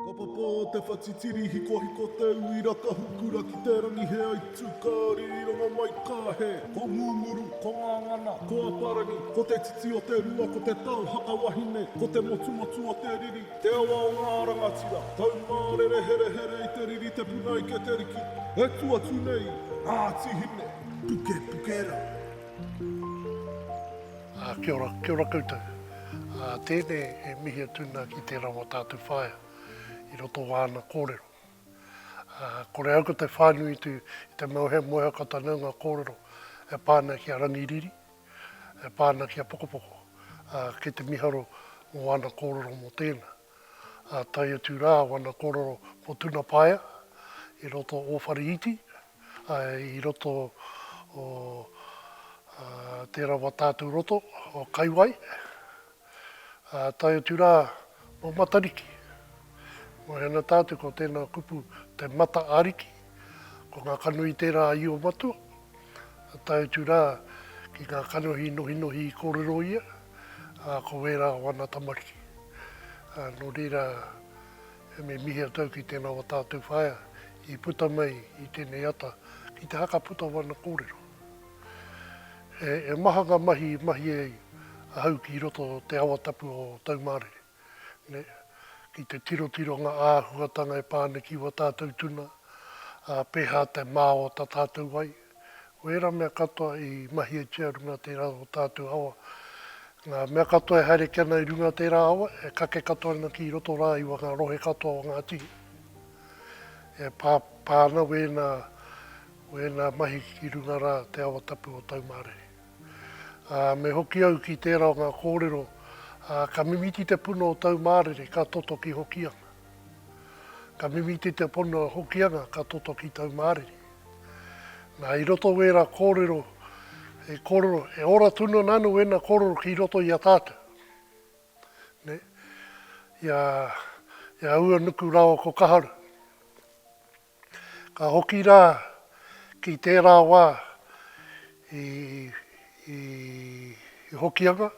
Ka papa te whatitiri hikohiko tauira ka hukura ki te rangi he aitu ka rironga mai ka he Ko Ngunguru, ko Ngangana, ko Aparangi Ko te titi o te rua ko te tau haka wahine Ko te motumotu o te riri, te awa o ngā rangatira Taumārere herehere i te riri te puna ike te riki E tu atu nei, Ngāti Hine, puke puke rā. Kia ora, kia ora koutou. Tēnei he mihi a Tuna ki tērā o tātou whaea i roto o āna kōrero. Kore au ko te whānui i te moehamoeha ko tāna o ngā kōrero e pā ana ki a Rangiriri, e pā ana ki a Pokopoko. Kei te miharo mō āna kōrero mō tēnā. Tae atu rā wana kōrero mō Tuna Paea i roto o Wharihiti, i roto o tērā wā tātou roto o Kaiwai, ā, tae atu rā mō Matariki. Moe ana tātou ko tēnā kupu te Mata Ariki, ko ngā kanohi tērā a Io Matua, ā, tae atu rā ki ngā kanohi nohinohi i kōrero ia, ā, ko wērā o ana tamariki. Ā, nō reira. Me mihi a tau ki tēnā o tātou whaea i puta mai i tēnei ata ki te haka puta wana kōrero. He maha ngā mahi i mahia ai ahau ki roto o te awa tapu o Taumārere, ki te tirotiro ngā āhuatanga e pā ana ki wā tātou tuna, ā, pēhā te māo tā tātou ai. Ko ērā mea katoa i mahietia runga tērā o tātou awa. Ngā mea katoa e haere ki ana i runga tērā awa, e kake katoa ana ki roto rā i wanga rohe katoa o ngā tihi. E pā, pā ana wēnā, wēnā mahi ki runga rā te awa tapu o Taumarehe. Ā, me hoki au ki tērā o ngā kōrero, ā, ka mimiti te puna o Taumarere ka toto ki Hokianga. Ka mimiti te puna o Hokianga ka toto ki Taumarere. Na, i roto o era korero, he korero, he ora tonu ana anu ena korero ki roto i a tatou. Ne? I a, i a Uanuku rawa ko Kaharu. Ka hoki ra ki tera wa i, i, i Hokianga,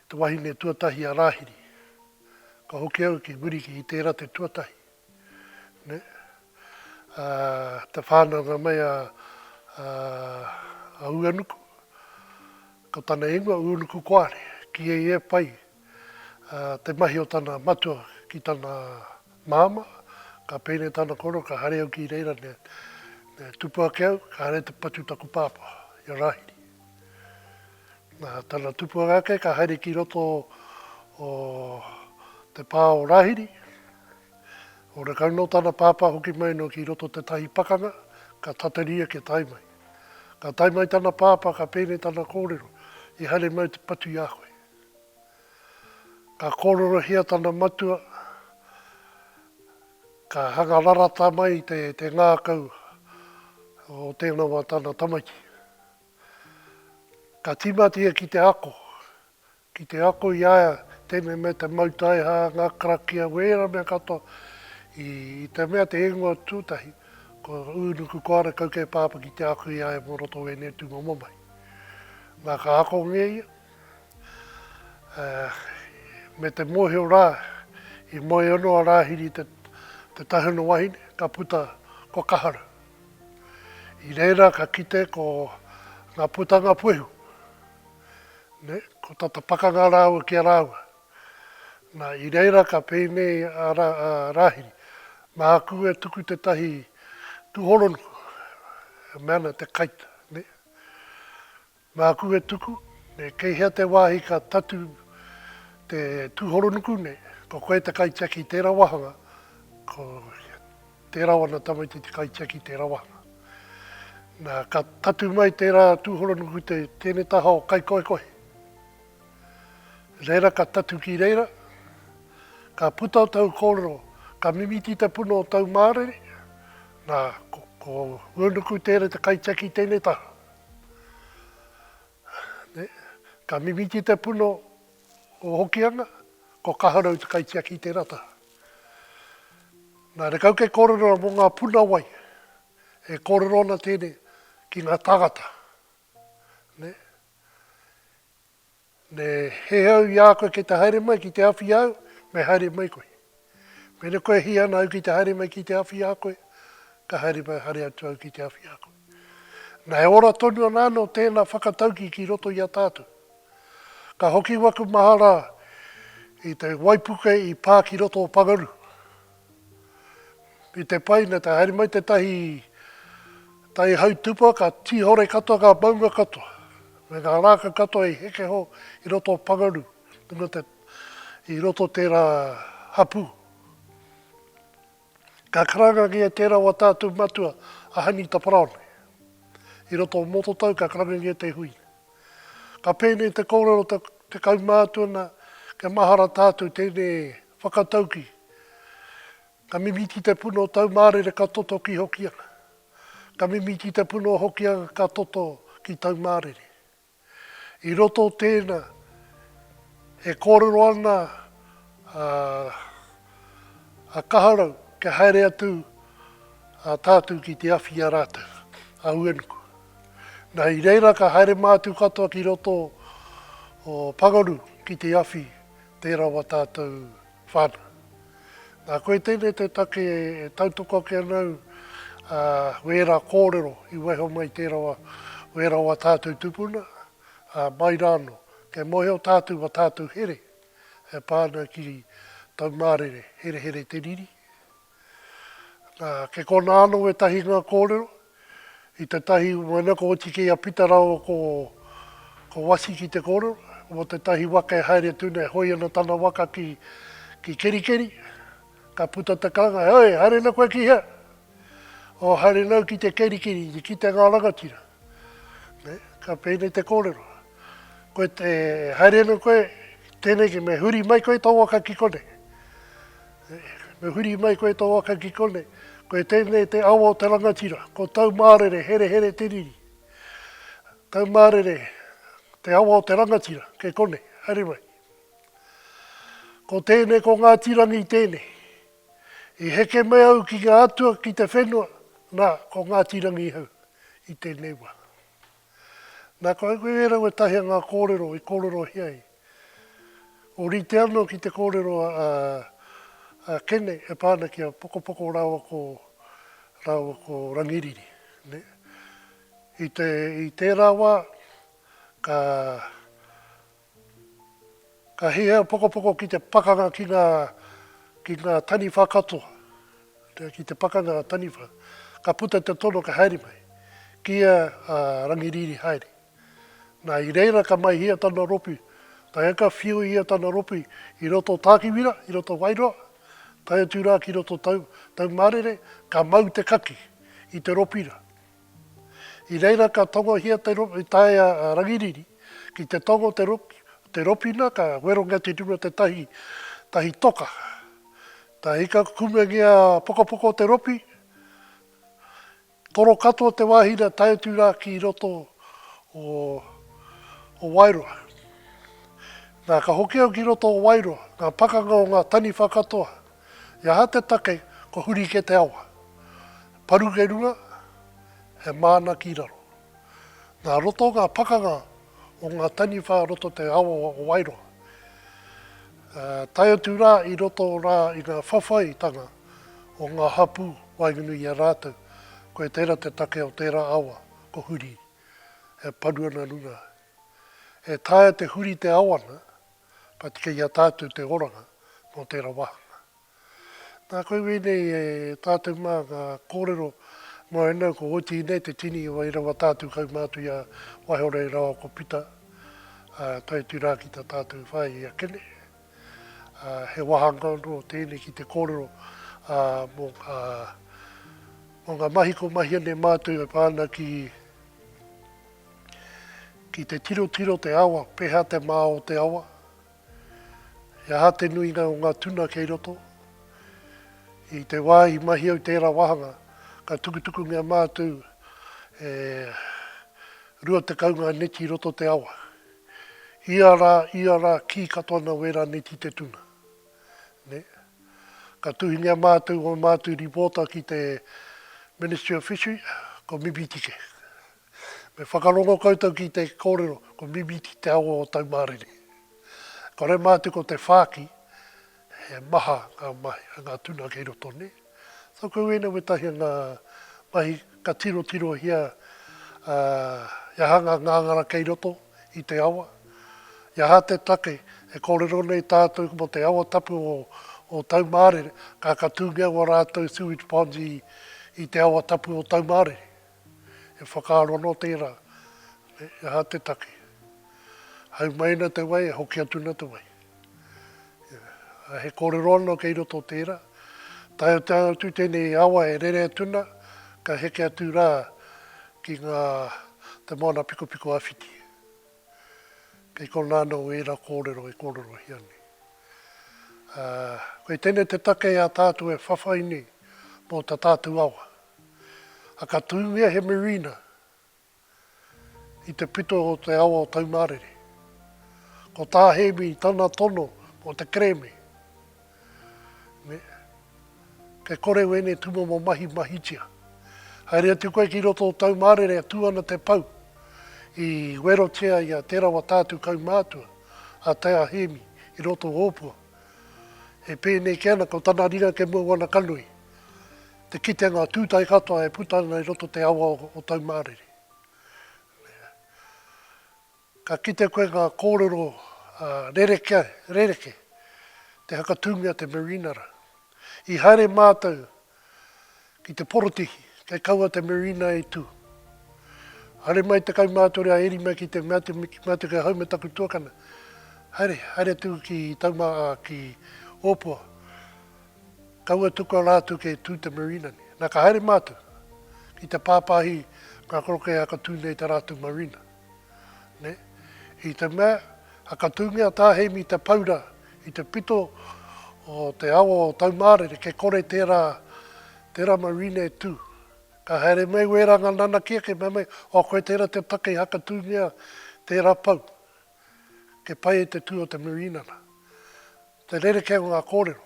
te wahine tuatahi a Rahiri. Ka hoki au ki Wiriki i tera te tuatahi. Nē? Ā, te whānanga mai a, a, a Uanuku, ko tana ingoa Uanuku Koare, kīhei e pai a, te mahi o tana matua ki tana māmā, ka pēnei tana koro, ka haere au ki reira, nē, nē, tupu ake au, ka haere te patu taku pāpā, i a Rāhiri. Nā tana tupuanga ake ka haere ki roto o te pā o Rāhiri. Ora kau nō tana pāpā hoki mai noa ki roto tētahi pakanga, ka tatari ake tae mai. Ka tae mai tana pāpā ka pēnei tana kōrero, I haere mau te patu i a koe. Ka kōrerohia tana matua, ka hanga rarata mai te ngākau o tēnā wā tana tamaiti. Ka tīmata ia ki te ako, ki te ako i a ia tēnei mea te mau taiha, ngā karakia, wēra mea katoa, i te mea te ingoa tūtahi, ko Ūnuku Koara kau kei Pāpā ki te ako i a ia mō roto o wēnei tū momo mahi. Na, ka ako nge ia, ā, me te mōhio rā, i moe ono a Rāhiri te, te tahuna wahine, ka puta ko Kaharu. I reira ka kite ko nga putanga puehu, ne, ko tata pakanga raua ki a raua. Na, i reira ka peenei a Rahiri, Mahaku e tuku tetahi tuhoronuku, e mea ana te kaita, ne. Māku e tuku, me kei hea te wāhi ka tatū te tūhoronuku nei, ko koe te kaitiaki i tērā wāhanga, ko tērā wana tamaiti te kaitiaki i tērā wāhanga. Nā, ka tatū mai tērā tūhoronuku i te tēne taha o Kaikohekohe. Reira ka tatū ki reira, ka puta o tāu kōrero, ka mimiti te puno o tāu mārere, nā, ko Uenuku Tere te kaitiaki i tēne taha. Ka mimiti te puno o Hokianga, ko Kaharau te kaitiaki i tērā taha. Nā rekau kei kōrero mō ngā puna wai, e kōrero ana tēnei ki ngā tāngata. Me he au i a koe kei te haere mai ki te awhi i a au, me haere mai koe. Mena kua hī ana au ki te haere mai ki te awhi i a koe, ka haere mai haere atu au ki te awhi i a koe. Na he ora tonu ana anō tēnā whakatauki ki roto i a tātou. Ka hoki waku mahara i te waipuke i pā ki roto o Pangaru. I te pai, nā te haere mai tētahi tai hautupa, ka tīhore katoa ngā maunga katoa, me ngā rākau katoa i hekeho i roto o Pangaru, i roto o tērā hapū. Ka karangangia tērā o ā tātou matua, a Hainita Paraone. I roto o Mototau, ka karangangia te hui. Ka pēnei te kōrero tekau mā atu ana, kia mahara tātou tēnei Whakatauki, Ka mimiti te puna o tau mārere ka toto ki Hokianga. Ka mimiti te puna o Hokianga ka toto ki tau mārere. I roto o tēnā, e kōrero ana a Kaharau kia haere atu a tātou ki te awhi i a rātou, a Uenuku. Na, i reira ka haere mātou katoa ki roto o Pangaru ki te awhi Tē rawa tātou whānau. Nā koe tēnei te take e tautoko ake ana au, ā, wērā kōrero i waiho mai tē rawa, wē rawa tātou tupuna, ā, mai rānō. Kei mōhio tātou mā tātou here e pā ana ki Taumārere, herehere te riri, Nā, kei konā anō ētahi ngā kōrero. I tētahi waina ko oti kei a Pita rāua ko, ko Wasi ki te kōrero, mō tētahi waka e haere atu nei, e hoi ana tana waka ki, ki Kerikeri. Ka puta te karanga, Heoi, haere ana koe ki hea? O, haere nāu ki te Kerikeri, i kitea ngā rangatira. Nē, ka pēnei te kōrero. Koe te, e haere ana koe, tēneki, me huri mai koe tō waka ki konei. Me huri mai koe tō waka ki konei. Ko tēnei te awa o te rangatira, ko Taumārere, herehere te riri. Taumārere, te awa o te rangatira, kei konei, haere mai. Ko tēnei, ko Ngāti Rangi tēnei. I heke mai au ki ngā atua, ki te whenua, nā, ko Ngāti Rangi hau i tēnei wā. Nā, kua auau e rau ētahi a ngā kōrero i kōrerohia ai. Ōrite anō ki te kōrero a, a Kene e pā ana ki a Pokopoko rāua ko, rāua ko Rangiriri, nē. I te, i tērā wā, ka, Ka hiahia a Pokopoko ki te pakanga ki nga ki nga taniwha katoa, ki te pakanga nga taniwha. Ka puta te tono ka haere mai. Kiia a Rangiriri haere. Na i reira ka maihia tana ropi, tae ka whiu ia tana ropi i roto o Takiwira, i roto o Wairoa, tae atu ra ki roto tau, Taumarere, ka mau te kaki i te ropi ra. I reira ka tongohia te ropi taea a Rangiriri ki te tongo te ropi, te ropina ka werongia te ruru o te tahi, tahi toka. Ta ika kumengia pokopoko te ropi, toro katoa te wahi na tae atu ra ki roto o, o Wairoa. Na ka hoki au ki roto o Wairoa, nga pakanga o nga taniwha katoa. He aha te take ko huri ke te awa? Paru ke runga, he māna ki raro. Nā roto ngā pakanga o ngā taniwha roto te awa o Wairoa. Tae atu rā i roto rā i ngā whawhaitanga o ngā hapū waenganui i a rātou, koe tērā te take o tērā awa ko huri e paru ana runga. E taea te huri te awa na, Ka tika i a tātou te oranga mō tērā wāhanga. Nā, koe wēnei e tātou mā ngā kōrero mō au nau ko Oti nei te tini o ērā wā tātou kaumātua i a Waihorei rawa ko Pita, ā, tae atu rā ki tā tātou whāea i a Kene. Ā, he wāhanga anō tēnei ki te kōrero, ā, mō ngā, mō ngā mahi ko Mahiane mātou e pā ana ki Ki te tirotiro te awa, peha te mā o te awa? He aha te nuinga o ngā tuna kei roto? I te wā i mahi au tērā wāhanga, ka tukutukungia mātou e 20 ngā neti i roto te awa. Ia rā, ia rā, kī katoa nā wērā neti te tuna. Nē? Ka tuhingia mātou ō mātou ripōta ki te Ministry of Fishery, ko Mibitike. Me whakarongo koutou ki te kōrero ko Mimiti te awa o Taumārere. Kore mā te ko te whāki, he maha ngā mahi a ngā tuna kei roto nei. Tōku uinu wetahi o ngā mahi ka tirotirohia i aha ngā ngāngara kei roto i te awa, i aha te take e kōrero nei tātou mō te awa tapu o Taumārere, ka ka tūngia ua rātou sewage ponds i te awa tapu o Taumārere. E whakaaro anō tērā, e aha te take? Haumaina te wai, e hoki atu ana te wai. Ā, he kōrero anō kei roto o tērā, taea atu tēnei awa e rere atu ana, ka heke atu rā ki ngā, te moana pikopiko āwhiti. Kei konā anō ērā kōrero e kōrerohia nei. Ā, kei tēnei te take a tātou e whawhai nei mō tā tātou awa. Ā, ka tūngia he marina i te pito o te awa o Taumārere. Ko tā Hēmi tana tono mō te kerēme. Me Kei kore wēnei tūmomo mahi mahitia. Haere atu koe ki roto o tau mārere e tū ana te pou i werotia i a Te Rawa Tātu kaumātua, a Te Ahemi i roto o Ōpua. E pēnei kē ana ko tana ringa ke mua wana ka nui te kitenga tūtae katoa e puta ana i roto te awa o tau mārere. Me. Ka kite koe ngā kōrero rerekē, rerekē, te hakatūngia te Marinara. I haere mātou ki te porotihi, kei kaua te Marina i tū. Haere mai te kaumātore a Eri mai ki te mea te ki mātou kei hau me taku tuakana, haere, haere atu ki Tauma, ā, ki Ōpua. Kaua tukua rātou kei tū te Marina nei. Nā, ka haere mātou ki te pāpāhi ngā koroke e hakatū nei tā rātou Marina. I te mea, whakatūngia tā Heimi Te Paura i te pito o te awa o Taumārere, kei kore tērā, tērā marine e tū. Ka haere mai wērā ngā nanakia kei mea mai, oh koe tērā te take i whakatūngia tērā pou. Kei pai e te tū o te marine ana. Te rerekē o ngā kōrero.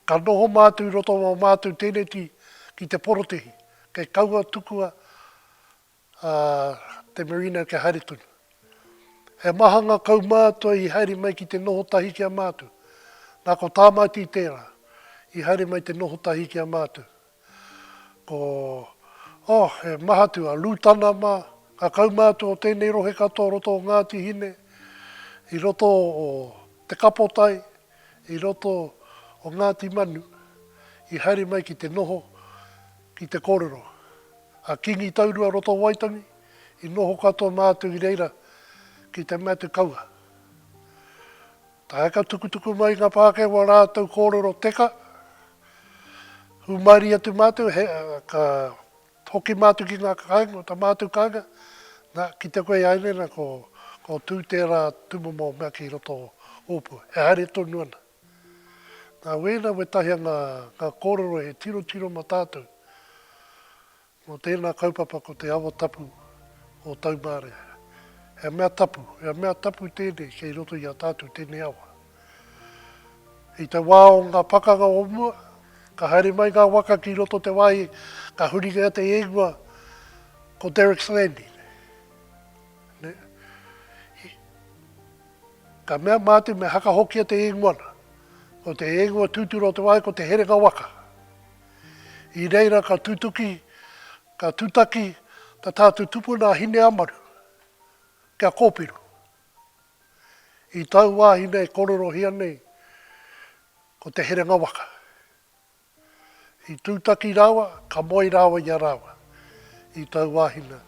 Ka noho mātou i roto o mātou tēneti ki te porotehi, kei kaua tukua a te merino kia haere tonu. He maha nga kaumātua i haere mai ki te noho tahi ki a mātou. Na ko Tāmati tērā i haere mai te noho tahi ki a mātou. Ko, oh, he maha atu a Lūtana mā, nga kaumātua o tēnei rohe katoa roto o Ngāti Hine, i roto o Te Kapotai, i roto o Ngāti Manu, i haere mai ki te noho, Ki te kōrero a Kīngi Taurua Roto Waitangi, i noho katoa mātou i reira ki te mea te kaua. Tae ka tukutuku mai ngā Pākehā ō rātou kōrero teka, hūmarie atu mātou, ka hoki mātou ki ngā kāinga, o tā mātou kāinga, nā, ki te koe āianei nā, ko, ko Tū tērā tūmomo mea ki roto o Ōpua, he haere tonu ana. Nā wēnā wētahi a ngā ngā kōrero he tirotiro mō tātou, mō tēnā kaupapa ko te awa tapu o Taumārea. He mea tapu, he mea tapu tēnei kei roto i a tātou tēnei awa. I te wā o ngā pakanga o mua, ka haere mai ngā waka ki roto te wāhi, ka huringia te ingoa ko Derricks Landing. Ka mea mātou me hakahokia te īngoana, ko te īngoa tūturu o te wāhi ko Te Herenga Waka. I reira ka tutuki, ka tutaki ta tātou tupuna a Hineamaru kia kōpiro. I tau wāhi nei kōrerohia nei ko Te Herenga Waka. I tūtaki rāua, ka moe rāua i a rāua, i tau wāhina.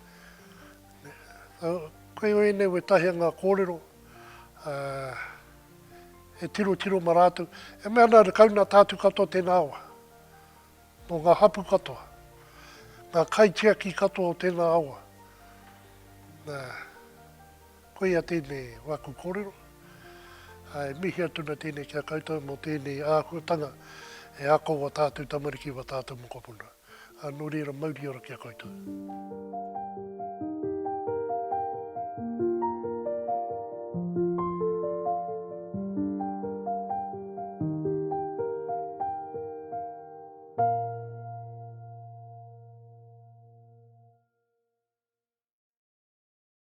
Koe ēnei wētahi o ngā kōrero e tirotiro ma rātou, e mea ana rakau nā tātou katoa tēnā awa, nō ngā hapu katoa, ngā kaitiaki katoa o tēnā awa. Koia tēnei waku kōrero. E mihi atu na tēnei ki a koutou mō tēnei āhuatanga e ako wa tātou tamariki wa tātou mokopuna. Nō reira mauri ora ki a koutou.